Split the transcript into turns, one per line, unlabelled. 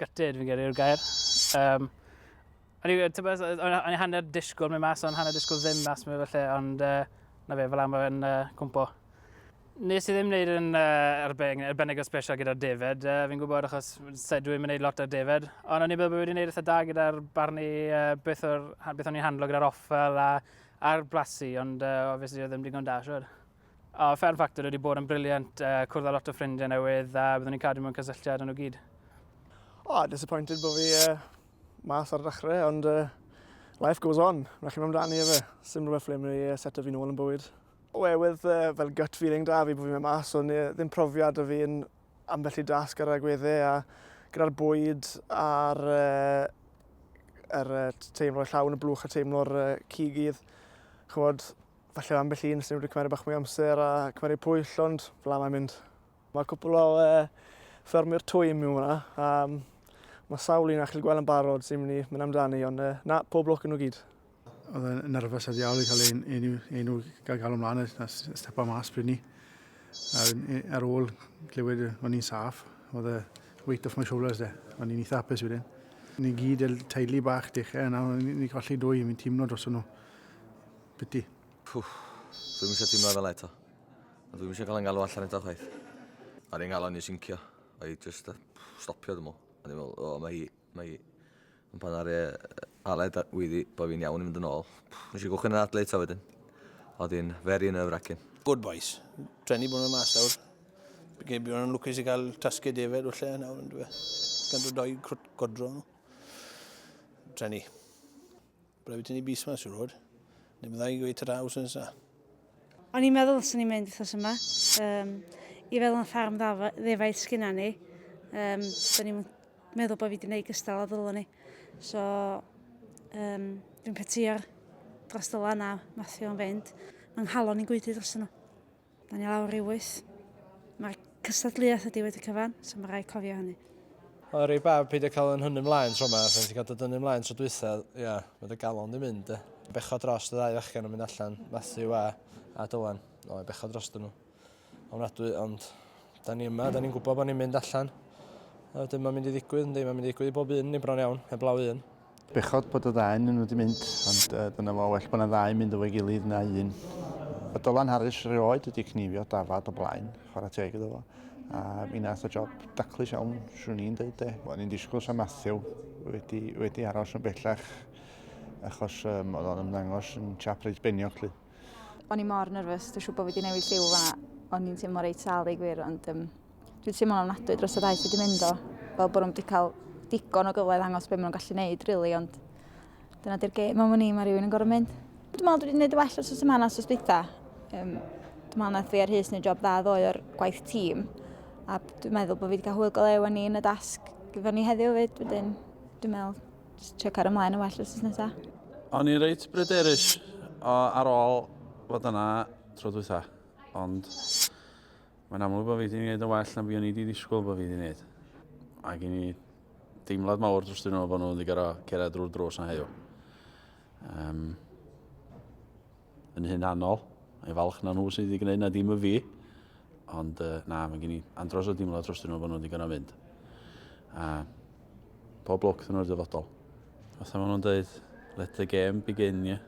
Gutted, fi'n gyrru yw'r gair. Um, o'n i hanner disgwyl mynd mas, o'n hanner disgwyl ddim mas mynd felly, ond uh, na fe, fel am yn uh, cwmpo. Nes i ddim wneud yn uh, arbennig, arbennig o special gyda'r defed. Uh, fi'n gwybod achos dwi'n mynd wneud lot o'r defed. Ond o'n i'n meddwl bod wedi wneud eitha da gyda'r barnu uh, beth, or, beth o'n i'n handlo gyda'r offel a, a'r blasu. Ond uh, obviously oedd ddim digon da, siwr. O, Fern Factor wedi bod yn briliant, uh, cwrdd â lot o ffrindiau newydd a byddwn ni'n cadw mewn cysylltiad yn nhw gyd. O, oh,
disappointed bod fi uh, mas ar y dechrau, ond uh, life goes on. Mae chi'n mynd amdani efe. Sim rhywbeth ble mae uh, set o fi'n ôl yn bywyd. Oherwydd uh, fel gut feeling da fi bod fi'n mynd mas, ond uh, ddim profiad o fi'n ambell i dasg ar y agweddau a gyda'r bwyd a'r uh, er, uh, teimlo'r llawn y blwch a teimlo'r uh, cigydd. Chymod, Falle ambell un sy'n wedi cymryd bach mwy amser a cymryd pwyll, ond fla mae'n mynd. Mae cwpl o e, ffermwyr twy mewn hwnna. Um, mae sawl un a chi'n gweld yn barod sy'n mynd i mynd amdani, ond e, na, pob lwc yn nhw gyd. Oedd yn
nerfus a ddiawl i cael ein, ein, ein, gael gael ymlaen a stepa mas bryd ni. Ar ôl glywed o'n i'n saff, oedd y weight off my shoulders de. O'n i'n eitha hapus wedyn. Ni gyd teulu bach dechrau yna, ni golli dwy, mi'n teimlo dros nhw. Piti. Pwff,
dwi'm eisiau teimlo fel eto. A dwi'm eisiau cael yng ngalw allan eto chwaith. Ar yng ngalon i syncio. O'i just stopio ddim o. O'n i'n meddwl, o, mae hi, mae hi. Ond pan ar e aled a wyddi bod fi'n iawn i fynd yn ôl. Nes i gwchyn yn adle eto wedyn. Oedd hi'n very nerve-wracking. Good boys.
Treni bod nhw'n mas nawr. Bydd bydd nhw'n lwcus i gael tasged defed o lle nawr yn dweud. Gan dod o'i crwt godro nhw. Treni. Byddai wedi ni bus yma, siwr fod. Ni byddai i gweud ta-ra wrth nesa. O'n i'n
meddwl os o'n i'n mynd wrthnos yma, um, i feddwl am ffarm ddefaid sgynna ni, um, da ni'n meddwl bod fi wedi gwneud gystal a ddylwn ni. So, um, dwi'n petio'r dros dyla yna, Matthew o'n fynd. Mae'n nghalon i'n gwydu dros nhw. Da ni lawr i wyth. Mae'r cystadleuaeth ydi wedi cyfan, so mae rai cofio hynny. Oedd e rei bad
peidio cael yn hynny mlaen tro yma, pan ti'n cael dod yn ymlaen tro dwytha, ia, mae dy galon di mynd, e. Becho dros y ddau fachgen yn mynd allan, Matthew a, a Dylan. O, e, becho dros dyn nhw. Ofnadwy, ond da ni yma, da ni'n gwybod bod ni'n mynd allan. A wedyn mae'n mynd i ddigwydd, ynddi, mae'n mynd i ddigwydd i bob un, ni bron iawn, heblaw un. Bechod bod y
ddau yn nhw wedi mynd, ond uh, dyna fo, well bod yna ddau mynd efo'i gilydd na un. Mae Dylan Harris rioed wedi cnifio dafad o blaen, chwarae teg iddo fo. A mi nath o job daclus iawn, swn i'n dweud de. O'n i'n disgwyl sa Matthew wedi, wedi aros yn bellach achos um, oedd o'n ymddangos yn chap reit beniog lly. O'n i
mor nerfus, dwi'n siŵr bod fi wedi newid lliw fanna. O'n i'n teimlo reit sal i gwir, ond um, dwi'n teimlo ofnadwy dros y daith wedi mynd o. Fel bod nhw'n wedi cael digon o gyfle ddangos beth maen nhw'n gallu gwneud, rili, really, ond dyna di'r gêm am ni, mae rhywun yn gorau mynd. Dwi'n meddwl dwi wedi gwneud y well os oes yma na sos bita. Um, dwi'n meddwl nath fi ar hys neu job dda ddoe o'r gwaith tîm. A dwi'n meddwl bod fi wedi cael hwyl golew â ni yn y dasg gyda ni heddiw fyd. Wedyn, dwi'n meddwl Just trio cario ymlaen yn well wrth nesa. O'n i'n reit
bryderus ar ôl fod yna tro dwytha, ond mae'n amlwg bod fi wedi gwneud yn well na fi o'n i wedi ddisgwyl bod fi wedi gwneud. Mae gen i deimlad mawr dros dyn nhw bod nhw wedi gorau cerdded drwy'r drws na heddiw. Um, yn hunanol. Mae'n falch na nhw sydd wedi gwneud na dim y fi. Ond uh, na, mae gen i andros o dimlo dros dyn nhw bod nhw wedi gwneud mynd. A pob lwc dyn nhw'r dyfodol. Fatha maen nhw'n dweud, let the game begin, ie. Yeah.